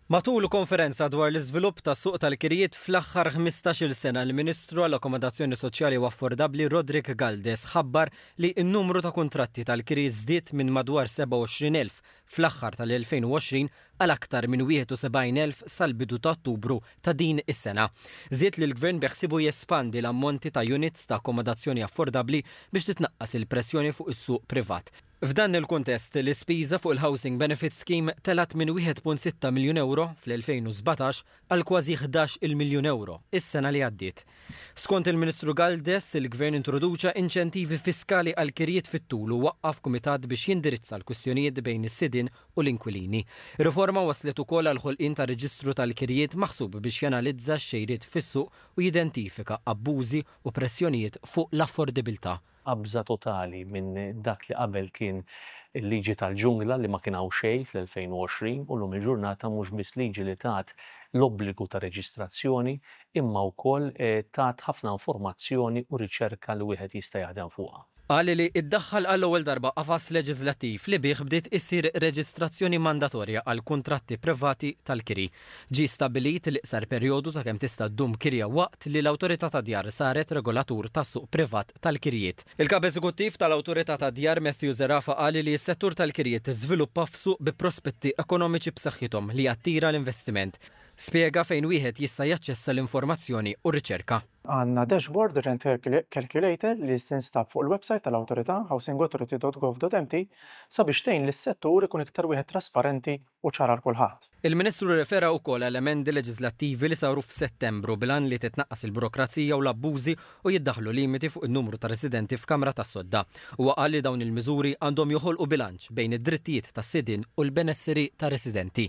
Matul konferenza dwar l-iżvilupp tas-suq tal-kirjiet fl-aħħar ħmistax-il sena, l-Ministru għall-Akkomodazzjoni Soċjali u Affordabbli Roderick Galdes ħabbar li n-numru ta' kuntratti tal-kiri żdied minn madwar 27,000 fl-aħħar tal-2020 għal aktar minn 71,000 sal-bidu ta' Ottubru ta' din is-sena. Żied li l-Gvern beħsiebu jespandi l-ammonti ta' units ta' akkomodazzjoni affordabbli biex titnaqqas il-pressjoni fuq is-suq privat. F'dan il-kuntest, l-ispiża fuq il-Housing Benefit Scheme telgħet minn 1.6 miljun ewro fl-2017 għal kważi ħdax il-miljun ewro is-sena li għaddiet. Skont il-Ministru Galdes, il-Gvern introduċa inċentivi fiskali għall-kirjiet fit-tul u waqqaf kumitat biex jindirizza l-kwistjonijiet bejn is-sidien u l-inkwilini. Ir-riforma wasslet ukoll għall-ħolqien ta' reġistru tal-kirjiet maħsub biex janalizza x-xejriet fis-suq u jidentifika abbużi u pressjonijiet fuq l-affordibiltà. qabża totali minn dak li qabel kien il-liġi tal-ġungla li ma kien hawn xejn fl-2020 u llum il-ġurnata mhux biss liġi li tat l-obbligu ta' reġistrazzjoni imma wkoll tat ħafna informazzjoni u riċerka li wieħed jista' jaħdem fuqha. Qal li iddaħħal għall-ewwel darba qafas leġiżlattiv li bih bdiet issir reġistrazzjoni mandatorja għall-kuntratti privati tal-kiri. Ġie stabbilit l-iqsar perjodu ta' kemm tista' ddum kirja waqt li l-Awtorità tad-Djar saret regolatur tas-suq privat tal-kirjiet. Il-Kap Eżekuttiv tal-Awtorità tad-Djar Matthew Zerafa qal li s-settur tal-kirjiet żviluppa f'suq bi prospetti ekonomiċi b'saħħithom li jattira l-investiment. Spjega fejn wieħed jista' jaċċessa l-informazzjoni u r-riċerka. Għandna dashboard rent calculator li tinstab fuq il-websajt tal-Awtorità, housingauthority.gov.mt, sabiex tgħin lis-settur ikun iktar wieħed trasparenti u ċar għal kulħadd. Il-Ministru rrefera wkoll għal emendi leġiżlattivi li saru f'Settembru bil-għan li titnaqqas il-burokrazija u l-abbużi u jiddaħħlu limiti fuq in-numru ta' residenti f'kamra tas-sodda. Huwa qal li dawn il-miżuri għandhom joħolqu bilanċ bejn id-drittijiet tas-sidien u l-benesseri tar-residenti.